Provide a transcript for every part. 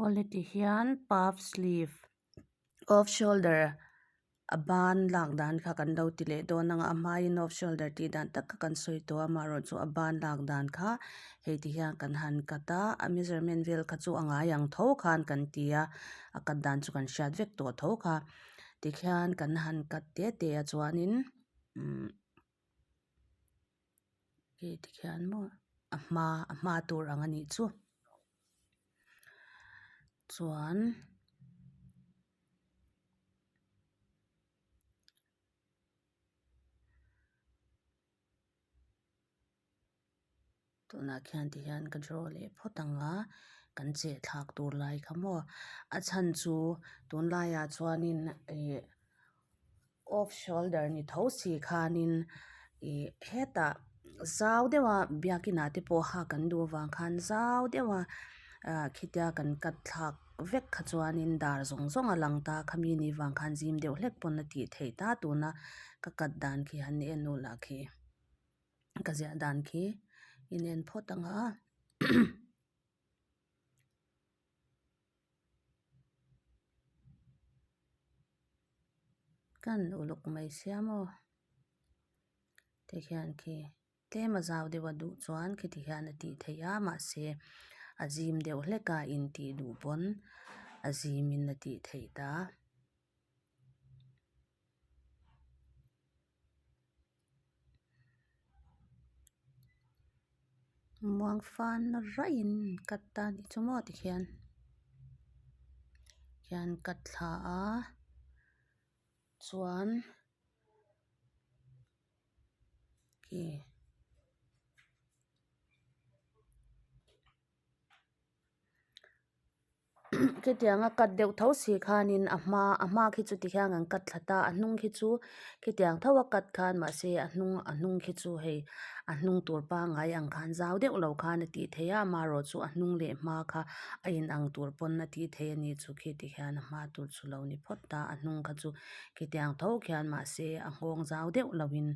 Aw leti hian puff sleeve off shoulder a ban lak dan kha kan lo ti leh dawn ang a a hmaiin off shoulder tih dan tak kha kan sawi tawh a amaherawhchu chu a ban lak dan kha hei ti hian kan han cut a a measurement vel kha chu a ngai ang tho khan kan ti a a cut dan chu kan hriat vek tawh tho kha tikhian kan han cut tete a chuanin. umm nge ti khian maw a hma a hma tur ang a nih chu chuan -- Tunah khian ti hian ka draw leh phawt ang a, kan chehthlak tur lai kha maw? A chhan chu tun laiah chuanin ih off shoulder ni tho si khanin ih hetah zau deuha biakinah te pawh hak an duh avang khan zau deuha ahh khitia kan katthlak vek kha chuanin dar zawng zawng a lang ta, khami ni vang khan zim deuh hlek pawn a tih theih ta tuna ka kat dan khi han en nulah khi. ka ziah dan khi i nen phawt anga kan uluk mai sia maw tikhian khi tlema zau deuh a duh chuan khi tikhian a tih theih a mahse a zim deuh hlek a in tih duh pawn a zim in a tih theih ta. Muangfan raih in cut tan i chu maw ti khian khian cut thla a chuan khi Khitianga cut deuh tho si khanin a hma a hma khi chu tikhian kan cut thla ta a hnung khi chu khitiang thoa cut khan mahse a hnung a hnung khi chu hei a hnung tur pangai ang khan zau deuh lo khan a tih theih a amarawh chu a hnung leh hma kha a inang tur pawn a tih theih a ni chu khi tikhian a hma tur chu lo ni phawt a a hnung kha chu khitiang tho khian mahse a nghawng zau deuh lovin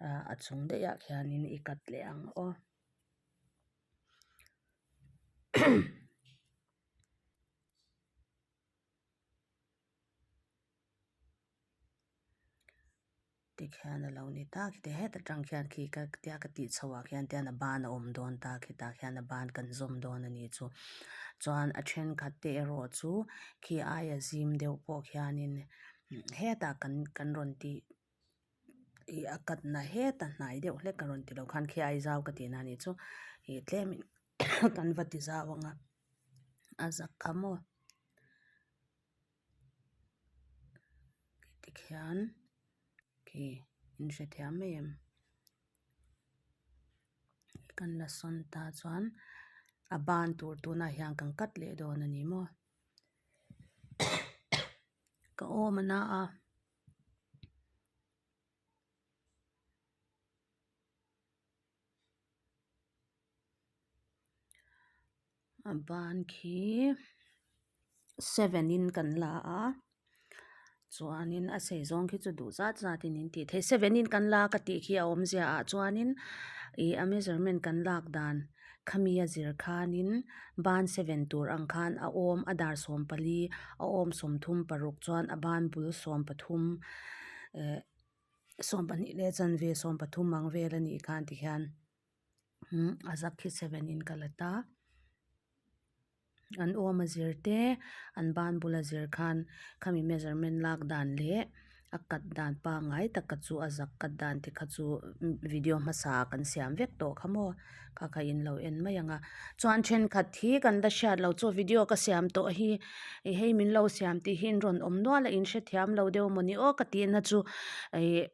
ahh a chung daih ah khianin i cut leh ang aw. Tikhian a lo ni ta khi te het atang khian khi ka tia ka tih chho ah khian tian a ban a awm dawn ta khi tah khian a ban kan zawm dawn a ni chu chuan a thenkhat te erawh chu khi aia zim deuh pawh khian in hetah kan kan rawn tih-- ih a katna het a hnai deuh hlek ka rawn ti lo khan khi a aizau ka ti na nih chu ih tlem in kan va ti zau ang a a zak kha maw tikhian khi in hrethiam mai em kan la sawn ta chuan a ban tur tuna hian kan kat leh dawn a ni maw ka awm a na a. a ban khi seven in kan la a chuanin a sei zawng khi chu duh zat zat in an ti thei seven in kan la ka tih khi a awmzia ah chuanin ihh a measurement kan lak dan. Khami a zir khanin ban seven tur ang khan a awm a dar sawm pali a awm sawmthum paruk chuan a ban bul sawm pathum eh sawm pahnih leh chanve sawm pathum ang vel a nih khan tikhian a zak hi seven in ka la ta. An awm a zir te, an ban bula zir khan khami measurement lak dan leh a cut dan pangngai taka chu a zak cut dan te kha chu video hmasa kan siam vek tawh kha maw kha kha in lo en mai ang a chuan thenkhat hi kan la hriat loh chu video ka siam tawh hi i hei min lo siam tih hi in rawn awm nual a in hrethiam lo deuh maw ni aw ka tihna chu ih--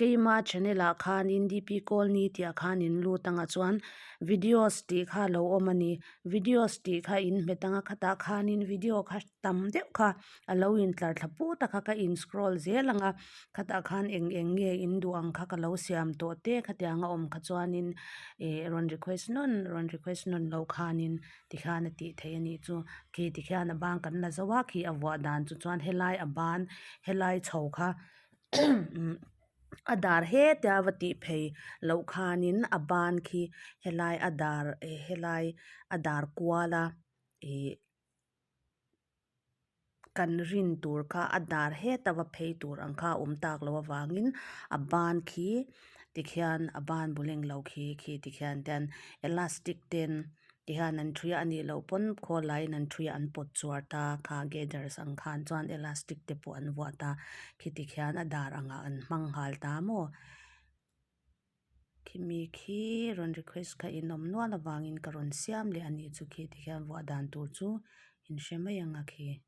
Keima channel ah khan in DP Colony tih ah khan in lut ang ah chuan videos tih kha lo awm a ni. Videos tih kha in hmet ang a khatah khan in video kha tam deuh kha a lo in tlar thla put a kha ka in scroll zel ang a khatah khan eng eng nge in duh ang kha ka lo siam tawh teh khatiang anga awm kha chuan in ih rawn request nawn rawn request nawn loh khan in ti khan a tih theih a nih chu khi ti khian a bang kan la zo a khi a vuah dan chu chuan helai a ban helai chho kha a dar hetia va tih phei loh khanin a ban khi helai a dar eh helai a dar kuala ihh kan rin tur kha a dar heta va phei tur ang kha a awm tak loh avangin a ban khi tikhian a ban bu lenglo khi khi tikhian elastic ten-- Tihian an ṭhuia a nih loh pawn khawl laiin an ṭhuia an pawt chhuar ta, kha gathers ang khan chuan elastic te pawh an vuah ta, khi tikhian a dar angah an hmang nghal ta maw? Khi mi khi rawn request kha inawm nual avangin ka rawn siam leh a nih chu khi tikhian vuah dan tur chu inhre mai anga khi.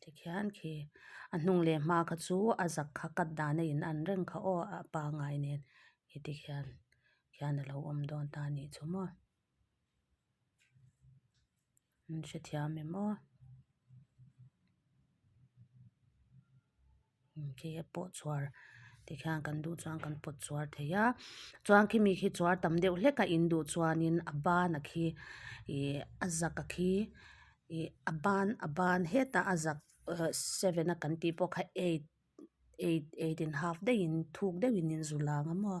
Tikhian khi a hnung leh hma kha chu a zak kha cut dan a in an reng kha aw a pangai nen khi tikhian khian a lo awm dawn ta ni chu maw an hrethiam em aw. khi a pawh chhuar tikhian kan duh chuan kan pawt chhuar thei a chuan khimi khi chhuar tam deuh hlek a in duh chuanin a bana khi ihh a zaka khi ihh a ban a ban heta a zak ehh seven a kan tih pawh kha eight eight eight and half deuhin thuk deuhin in zu lang a maw.